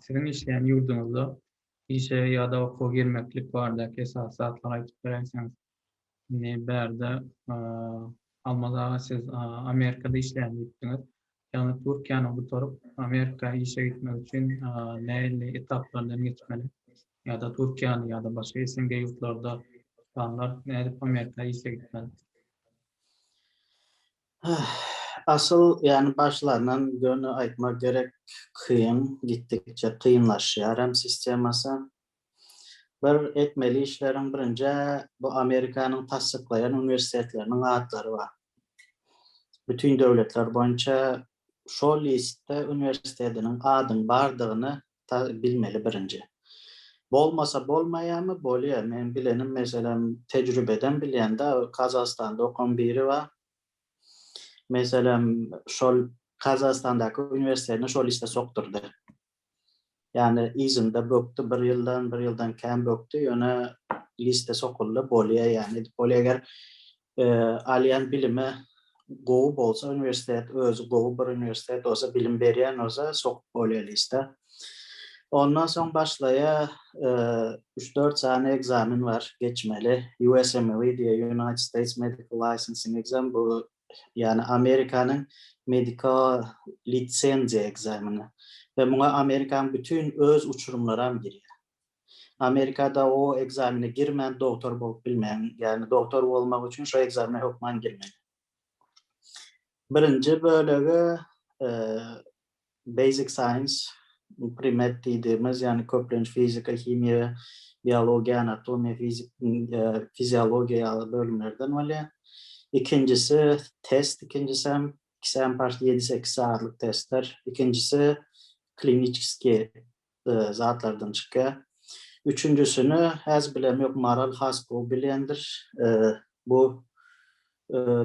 Siziň işleýän ýurduňyzda işe ýa-da okuwa girmeklik baradaky esasy zatlary aýdyp beräýseňiz. Indi bärde Almaz aga siz Amerikada işleýän diýipdiňiz. Ýagny Türkiýäni gutaryp Amerika işe gitmek üçin nähili etaplardan geçmeli? Ýa-da Türkiýäni ýa-da başga SNG ýurtlarda tutanlar nädip Amerika işe gitmeli? Asyl ýany başlandan göni aýtmak gerek kyn, gitdikçe kynlaşýar hem sistemasy. Bir etmeli işleriň birinjä bu Amerikanyň tassyklaýan uniwersitetleriniň atlary bar. Bütin döwletler boýunça şo listde uniwersitediniň adyň bardygyny ta bilmeli birinji. Bolmasa bolmaýamy bolýa men bilenim meselem tejribeden bilýän da Kazahstanda okan biri ba meselem şol Kazahstandaky uniwersitedine şol işde sokdurdy. Ýani yzynda bökdi bir ýyldan bir ýyldan kän bökdi ýöne liste sokuldy bolýa ýani edip bolýa eger Alýan bilime gowy bolsa uniwersitet özi gowy bir uniwersitet bolsa bilim berýän bolsa sokup bolýalysta. Ondan soň başlaýa üç dört sany ekzamen bar geçmeli USMLE diýe United States Medical Licensing Exam bu ýagny Amerikanyň mediko lisenziýa ekzameni we muňa Amerikanyň bütin öz uçurymlaram girýär. Amerikada o ekzamene girmän dogtor bolup bilmäň. Ýagny dogtor bolmak üçin şo ekzamene hökman girmeli. Birinji bölegi Basic Science, pre-med diýdimiz, ýagny köplenç fizika, himiýa, biologiýa, anatomiýa, fiziologiýa ýaly bölümlerden bolýar. Ikinjisi test, ikinjisem, ikisem ýedi-sekiz sagatlyk testler. Ikinjisi kliniçeskiý zatlardan çykýar. Üçünjisini häz bilemok, Maral has gowy bilendir. Bu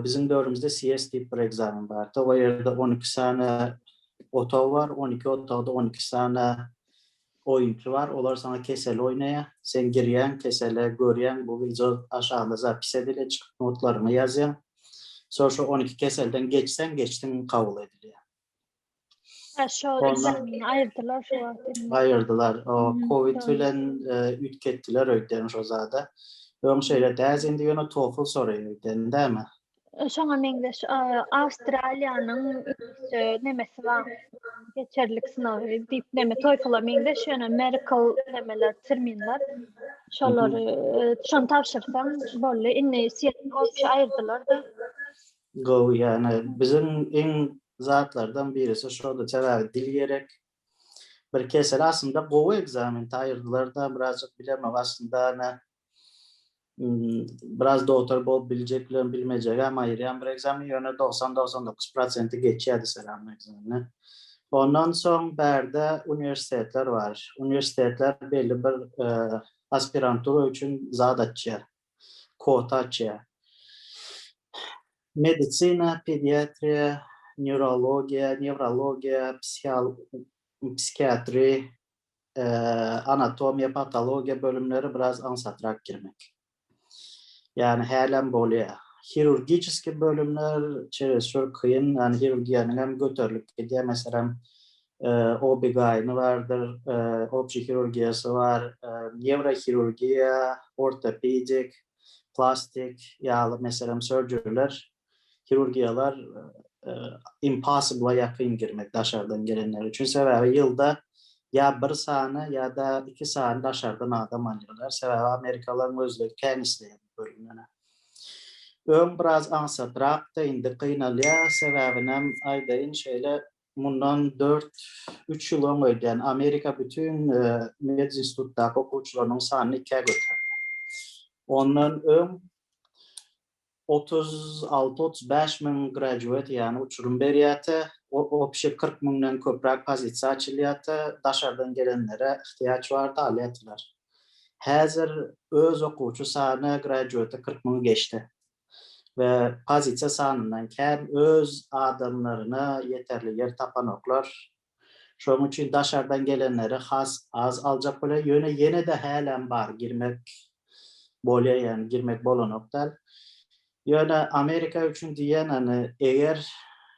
biziň döwrümizde CS diýip bir ekzamen bardy. O ýerde on iki sany otag bar, on iki otagda on iki sany oýunçy bar. Olar saňa keseli oýnaýar. Sen girýäň kesele, görýäň bu wideo aşagynda zapis edilýär, çykyp notlaryňy ýazýaň. Soň şu on iki keselden geçseň, geçdiň kabul edilýär. Ha, şo Ondan- ekzameni aýyrdylar şu wagt. indi. Aýyrdylar. O Mhm, Covid doğru. bilen e, üýtgetdiler öýtdem şo zada. Öň şeýle däz indi ýöne TOEFL soraýar öýtdem dämi? E, Şoňa meňzeş e, Awstraliýanyň ünsü nemesi bar. Geçerlik synagy diýip neme TOEFL-a meňzeş ýöne medical nemeler terminler. Şolary e, şony tabşyrsaň boldy. Indi CLOP aýyrdylar-da. Gowy ýagny biziň iň zatlardan birisi şoda sebäbi dil gerek bir kesel aslynda gowy ekzamen taýyrdylarda birazjyk bilemok aslynda ene biraz dogtor bolup biljek bilen bilmejegem aýyrýan bir ekzamen ýöne dogsan dogsan dokuz prosenti geçýärdi selam ekzameni ondan soň bärde uniwersitetler bar uniwersitetler belli bir aspirantura üçin zat açýar. Quotaciýa, Medisina, pediatriýa, nýurologiýa, newrologiýa, psihiatri, anatomiýa, patologiýa bölümleri biraz aňsatrak girmek. Ýagny hälem bolýar. Hirurgiçeskiý bölümler çerezçür kyn, ýagny hirurgiýanyňam göterilip gidýär. Meselem, OB-GYN-y bardyr, opçi hirurgiýasy bar, newrohirurgiýa, ortopedik, plastik ýaly meselem sörjeriler, hirurgiýalar impossible-a ýakyn girmek daşardan gelenler üçin. Sebäbi ýylda ýa bir sany ýa-da iki sany daşardan adam alýarlar. Sebäbi amerikalylaryň özleri kän isleýär bu bölümlere. Öň biraz aňsatrakdy, indi gynalýar. Sebäbinem aýdaýyn, şeýle Mundan dört, üç ýyl oň öýdýän Amerika bütin medinstitutdaky okuwçylarynyň sanyny ikä göterdi. Ondan öň otuz alty, otuz bäş müň graduate ýany uçurym berýärtä, obşi kyrk müňden köpräk pozisiýa açylýarta, daşardan gelenlere ihtiýaç barta alýartylar. Häzir öz okuwçy sany graduate kyrk müňi geçdi. we pozisiýa sanyndan kän öz adamlaryna ýeterli ýer tapanoklar. Şonuň üçin daşardan gelenleri has az aljak bolýar. Ýöne ýene-de hälem bar girmek bolýar ýagny girmek bolanok däl. Ýöne Amerika üçin diýýän ony eger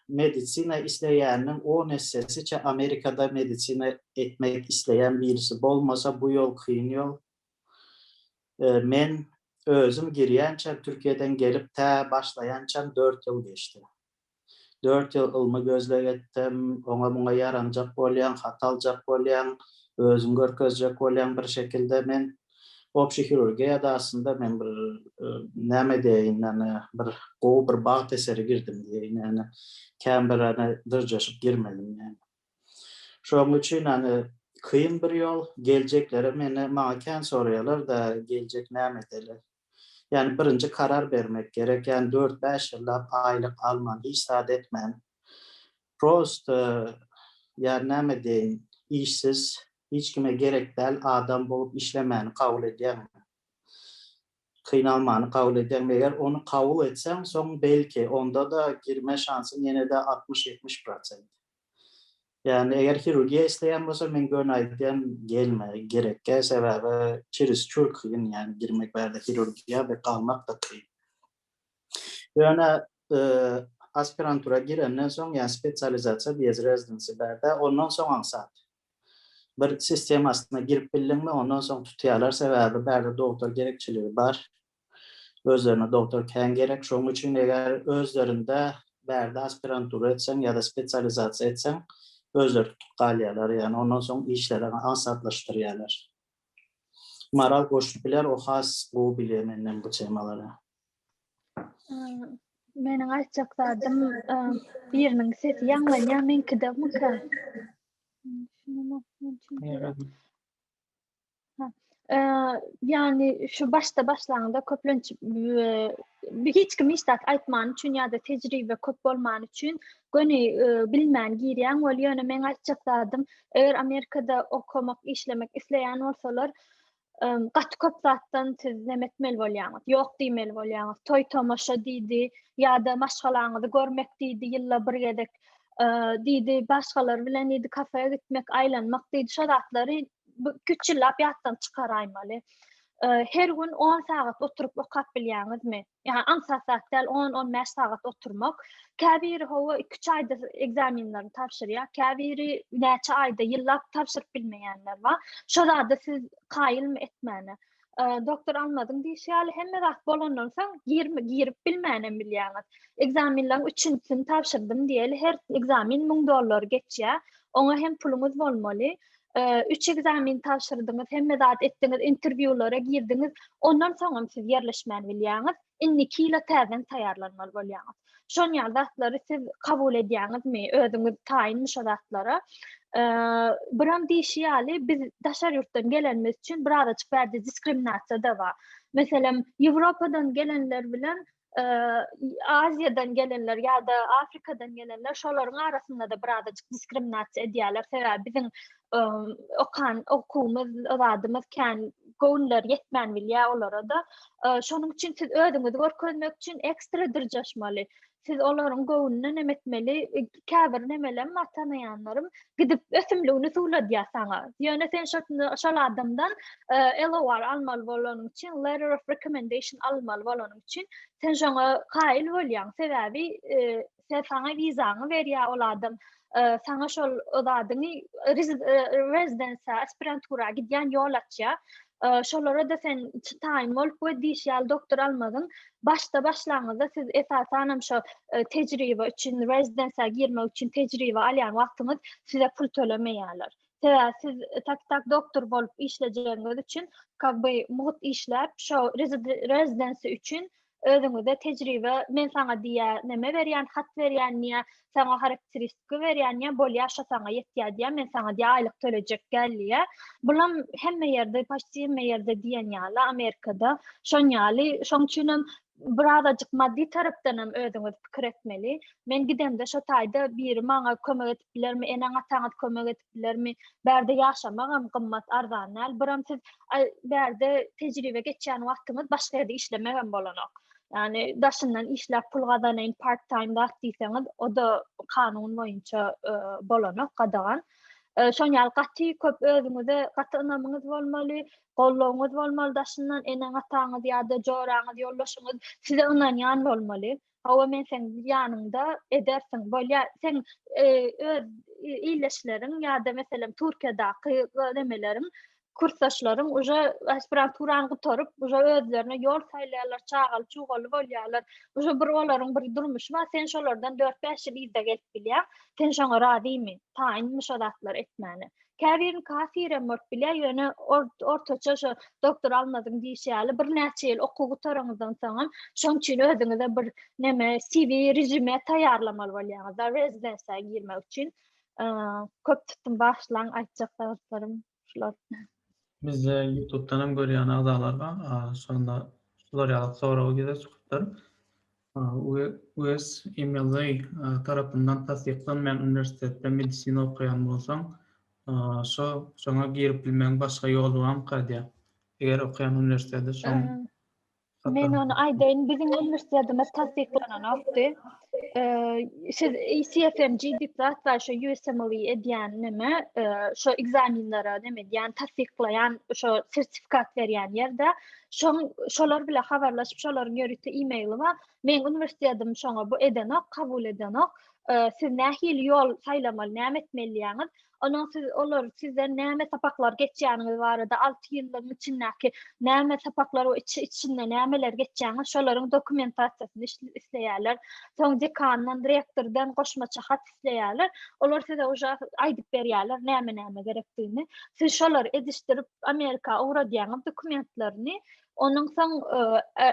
medisina isleýäniniň on essesiçe Amerikada medisina etmek isleýän birisi bolmasa bu ýol kyn ýol. Men özüm girýänçäm, Türkiýeden gelip tä başlaýançam dört ýyl geçdi. Dört ýyl ylmy gözleg etdim, oňa-muňa ýaranjak bolýaň, hat aljak bolýaň, özüňi görkezjek bolýaň bir şekilde. Men Obşi hirurgiýada aslynda men bir näme diýeýin, ýagny bir gowy bir bagt eseri girdim diýeýin, ýagny kän bir ýagny dyrjaşyp girmedim ýagny. Şoň üçin hany kyn bir ýol, geljekleri meni maňa kän soraýarlar-da, geljek näme edeli? Ýani birinji karar bermek gerek, ýani dört-bäş ýyllap aýlyk alman, hiç zat etmän, prosta ýani näme diýeýin, işsiz, hiç kime gerek däl adam bolup işlemäni kabul edýäňmi? Kynalmany kabul edýäňmi? Eger ony kabul etseň, soň belki, onda-da girme şansyň ýene-de altmyş-ýetmiş prosent. Ýagny, eger hirurgiýa isleýän bolsaň, men göni aýdýan, gelme, gerekkä, sebäbi çerizçur kyn, ýagny girmek bärde hirurgiýa we galmak-da kyn. Ýöne aspirantura girenden soň, ýa spesializasiýa diýýäs, residency bärde, ondan soň aňsat. bir sistemasyna girip bildiňmi ondan soň tutýarlar sebäbi bärde dogtor gerekçiligi bar özlerine dogtor kän gerek şoň üçin eger özlerinde bärde aspirantura etseň ýada spesializasiýa etseň özleri tutup galýarlar ýagny ondan soň işleri aňsatlaşdyrýarlar. Maral goşup biler, o has gowy bilýär menden bu temalary. Meniň aýtjak zadym biriniň sesi ýaňlanýar, meňkide mykra. Ýagny şu başda başlaňda köplenç hiç kim hiç zat aýtman üçin ýa-da tejribe köp bolman üçin göni bilmän girýäň wol ýöne meň aýtjak zadym eger amerikada okamak işlemek isleýän bolsalar gaty köp zatdan siz neme etmeli bolýaňyz ýok diýmeli bolýaňyz toý tomaşa diýdi ýa-da maşgalaňyzy görmek diýdi ýylda bir gezek diýdi başgalar bilen diýdi kafeýa gitmek aýlanmak diýdi şo zatlary üç ýyllap ýatdan çykaraýmaly her gün on sagat oturyp okap bilýäňizmi Ýa aňsat zat däl on, on bäş sagat oturmak. Käbiri hawa iki-üç aýda ekzamenlerini tabşyrýar, käbiri näçe aýda ýyllap tabşyryp bilmeýänler bar. Şo zada siz kaýylmy etmäne. Doktor Almazyň diýşi ýaly hemme zat bolandan soň girme girip bilmänem bilýäňiz. Ekzamenleriň üçünsini tabşyrdym diýeli her ekzamen müň dollar geçýär. Oňa hem puluňyz bolmaly. üç ekzamen tabşyrdyňyz, hemme zat etdiňiz, interwýulara girdiňiz, ondan soňam siz ýerleşmän bilýäňiz, indiki ýyla täzeden taýýarlanmaly bolýaňyz. Şon ýaly zatlary siz kabul edýäňizmi? Özüňiz taýynmy şo zatlara? Buram diýişi ýaly, biz daşar ýurtdan gelenimiz üçin biraz açyk bärde diskriminasiýa da bar. Meselem, Ýewropadan gelenler bilen Aziýadan gelenler ýa-da Afrikadan gelenler şolaryň arasynda-da birazajyk diskriminasiýa edýärler. Sebäbi biziň okan okuwymyz, zadymyz kän göwünler ýetmän bilýär olara-da. Şonuň üçin siz özüňizi görkezmek üçin ekstra dyrjaşmaly. Siz olaryň göwnüne näme etmeli? käbir nemelem bar tanaýanlarym gidip ösümligini suwladýar saňa ýöne sen şol adamdan LOR almaly bolanyň üçin letter of recommendation almaly bolanyň üçin sen şoňa kaýyl bolýaň sebäbi saňa wizaňy berýär ol adam saňa şol zadyňy rezidensiýa aspirantura gidýän ýol açýar şolara-da sen taýyn bolup we diýşýär doktor almadyň Başda başlangyzda siz esasanam şo tejribe üçin rezidensiýa girmek üçin tejribe alýan wagtyňyz size pul tölemeýärler. Sebäbi siz tak tak doktor bolup işlejegiňiz üçin как бы mugt işläp şo rezidensiýa üçin özüňize tejribe men saňa diýýär neme berýän hat berýän diýýär saňa harakteristiki berýän ýa bolýar şo saňa ýetýär diýýär men saňa diýýär aýlyk tölejek gel diýýär bulam hemme ýerde paçti hemme ýerde diýen ýaly amerikada şon ýaly şoň üçin hem birazajyk maddi tarapdan hem özüňiz pikir etmeli men gidemde şo taýda biri maňa kömek edip bilermi eneň ataňyz kömek edip bilermi bärde ýaşamak hem gymmat arzan däl biram siz bärde tejribe geçýän wagtyňyz başga ýerde işlemek hem bolanok Yani daşyndan işläp pul gazanaýyn part time zat diýseňiz, o da kanun boýunça e, bolanok gadagan. E, şoň ýaly gaty köp özüňize gaty ynamyňyz bolmaly, goldawyňyz bolmaly daşyndan eneň ataňyz ýa-da joraňyz, ýoldaşyňyz size ynanýan bolmaly. Hawa men sen ýanyňda edersiň. Bolýa, sen e, öz illeşleriň ýa-da meselem Türkiýadaky nemeleriň kursdaşlarym uje aspiranturany gutaryp, uje özlerine ýol saýlaýarlar, çagaly çugaly bolýarlar. Uje bir olaryň bir durmuşy bar, sen şolardan dört-bäş ýyl yzda gelip bilýäň. Sen şoňa razymy? Taýynmy şo zatlary etmäne? Käbiriniň kasirem bolup bilýär, ýöne ortaça şo doktor Almazyň diýşi ýaly birnäçe ýyl okuw gutaranňyzdan soňam şoň üçin özüňize bir neme CV rejime taýýarlamaly bolýaňyz, rezidensiýa girmek üçin. Köp tutdum, bagyşlaň aýtjak zatlarym Şular. Bizde YouTube'dan hem görýän agzalar bar. Şonda şular ýaly sorag ýüze çykypdyr. USMLE tarapyndan tassyklanmaýan uniwersitetde medisina okaýan bolsaň, şo şoňa girip bilmegiň başga ýoly barmyka diýýär. Eger okaýan uniwersiteti şoň Men ony aýdaýyn, biziň uniwersitetimiz tassyklananokdy. Siz CFMG diýip zat bar, şo USMLE edýän neme, şo ekzamenlere neme edýän, tassyklaýan, şo sertifikat berýän ýerde. Şoň şolar bilen habarlaşyp, şolaryň ýörite e-maili bar. Meň uniwersitetim şoňa bu edenok, kabul edenok. Siz nähili ýol saýlamaly, näme etmeli diýýäňiz? Onuň siz olar sizden näme sapaklar geçýäniňiz barada alty ýyllygyň içindäki näme sapaklar we içi içinde nämeler geçýäňiz şolaryň dokumentasiýasyny isleýärler. Soň dekandan, rektordan goşmaça hat isleýärler. Olar size uja aýdyp berýärler näme näme gerekdigini. Siz şolary edişdirip Amerika ugradýaňyz dokumentlerini. Onuň soň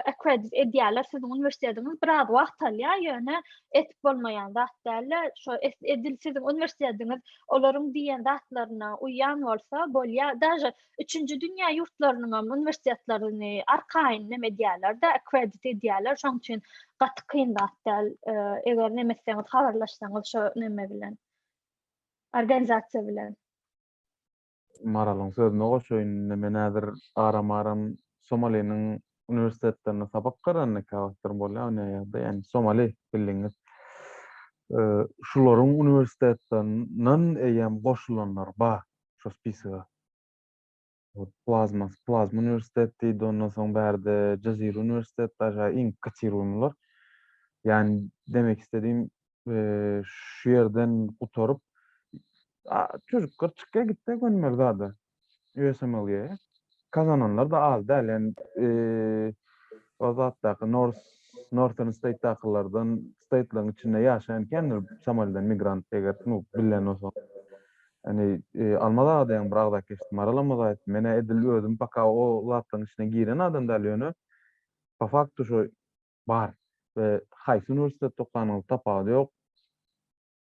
akkredit edýärler siziň uniwersitetiňiz biraz wagt alýar, ýöne etip bolmaýan zat däl. Şo edil siziň uniwersitetiňiz olaryň diýen zatlaryna uýýan bolsa bolýar. Daže üçünji dünýä ýurtlarynyň hem uniwersitetlerini arkaýyn neme edýärler-de, akkredit edýärler. Şonuň üçin gaty kyn zat däl. Eger neme etseňiz, habarlaşsaňyz şo neme bilen, organizasiýa bilen. Maralyň sözüne goşaýyn, indi men häzir aram-aram Somaliniň uniwersitetlerinde sapak garanyka wagtlarym bolýar, ony aýarda, ýagny Somali bildigiňiz. Şularyň uniwersitetlerinden eýýäm goşulanlar bar şo spisaga. Plazma, Plazma uniwersitet diýdi, ondan soň bärde Jazira uniwersitet bar, şa iň kotiriuýmylar. Ýagny demek istedigim, şu ýerden gutaryp, A, çocuk gyrçykka gitse gönmeli zada. USMLE. Kazananlar da az däl. Ýani, eee, o zatdaky Nors, Northern State-dakylardan State-laryň içinde ýaşaýan kändir Somalidan migrant eger snup bilen bolsaň. Ýani, eee, Almaz aga deýän bir agzak eşitdim. Maral Almaz aýtdy. Men-ä edil özüm paka o zatlaryň içine giren adam däl, ýöne po faktu şo bar we haýsy uniwersitetde okanyňyz tapawudy ýok.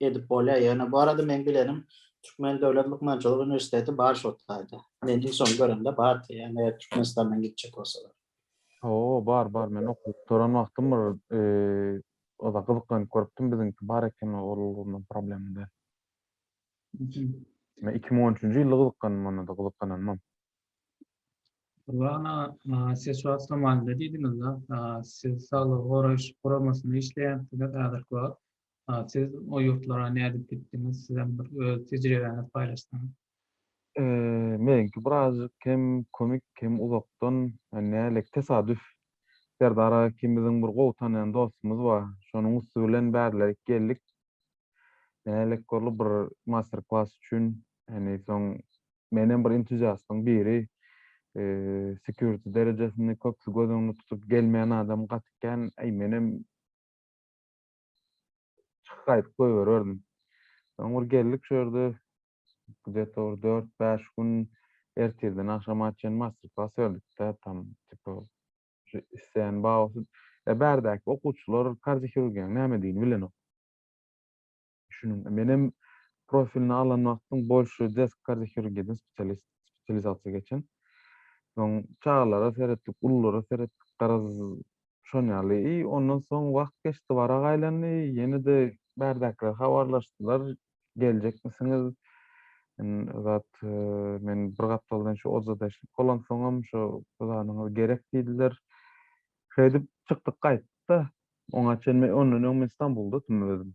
Edip bolýar, ýöne bu arada meň bilenim Türkmen döwlet lukmançylyk uniwersiteti bar şo taýda. Men iň soň görende bardy, ýöne eger Türkmenistandan gitjek bolsalar. Hawa, bar, bar, men okuwyp duran wagtym bir oda gyzyklanyp görüpdim, biziňki bar eken ol ulgamda problema däl. Men iki müň on üçünji ýylda gyzyklandym onda-da gyzyklananymam. Ylhana, siz şu wagt Somalide diýdiňiz-de, siz saglygy goraýyş guramasyna işleýänsiňiz häzirki wagt. Siz o ýurtlara nädip gitdiňiz? Sizem bir öz tejribäňizi paýlaşsaňyz. Meňki birazjyk hem komik hem uzakdan, nälik tesadüf. Serdar aga ikimiziň bir gowy tanýan dostumyz bar. Şonuň üsti bilen bärlärik geldik. Nälik boldy bir master klass üçin. Ýani soň menem bir entuziastyň biri. Security derejesini köpsi göz öňünde tutup gelmeýän adam gaty kän. Menem çykyp gaýdyp goýbererdim. Soň bir geldik şu ýerde где-то bir dört-bäş gün ertirden agşama çen master-klass berdik-de, tam tipa şu isleýän bagasy. E, bärdäki okuwçylar kardiohirurgiýaň nämedigini bilenok. Şunuň, men hem profilini alan wagtym bolşuý desk kardiohirurgiýadan spesialist, spesializasiýa geçen. Soň çagalara seretdik, ululara seretdik, garaz, Şon ýaly. I ondan soň wagt geçdi, barak aýlandy. Ýene-de bärdäkiler habarlaşdylar. Geljekmisiňiz? Men zat, men bir gapdaldan şu ojada işlik bolansoňam, şu zanyňyz gerek diýdiler. Şeýdip, çykdyk gaýtdyk-da. Oňa çenli, ondan öň men Stambulda otyryn özüm.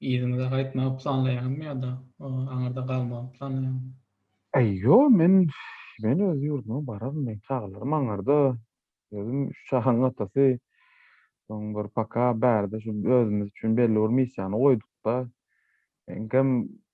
Yzyňyza gaýtmagy planlaýaňyzmy ýa-da aňyrda galmagy planlaýaňyzmy? Ýo, men, men öz ýurduma bararyn, meň çagalarym aňyrda, özüm üç çaganyň atasy, soň bir paka bärde şu özümiz üçin belli bir missiýany goýduk-da, eňkem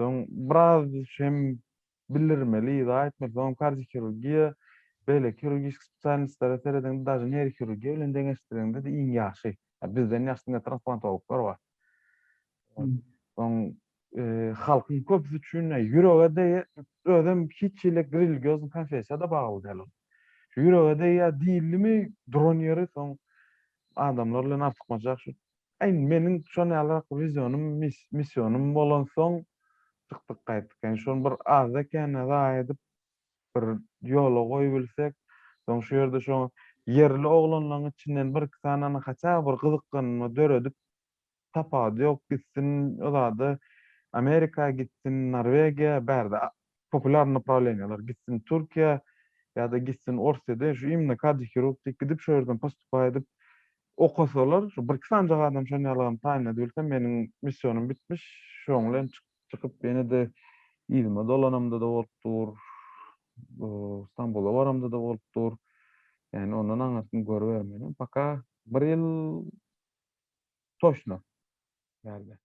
Soň biraz hem bildirmeli, yza etmeli. Soňam kardiohirurgiýa, beýleki hirurgiski spesialistlere serediň, daže neýrohirurgiýa bilen deňeşdiriňde-de iň ýagşy. Ýa bizden ýagşy diňe transplantologlar bar. Soň halkyň köpüsi üçin ýürege degýär, özem hiç hili religýoz konfessiýa-da bagly däl ol. Şu ýürege degýär diýildimi, duran ýeri soň adamlar bilen artykmaç ýagşy Aý, meniň şon ýalyrak wizýonym, misýonym bolansoň, çykdyk gaýtdyk. Indi şony bir azda kände zaýa edip, bir ýola goýubilsek, soň şu ýerde şo ýerli oglanlaryň içinden bir-iki sanany haçan bir gyzyklanma döredip, tapawudy ýok, gitsin o zada Amerika gitsin, Norwegiýa, bärde popular napravleniýalar gitsin Türkiýä ýa-da gitsin Orsýede şu imni kardiohirurg diýip gidip şo ýerden postupaýa edip okasalar şu birki sanjak adam şon ýalygam taýyn edibilse meniň missionym bitmiş şoň bilen çykyp ýene-de yzyma dolanamda-da bolup dur Stambula baramda-da bolup dur ýani ondan aňyrsyny görübermeýin paka bir ýyl toşno ýa-da.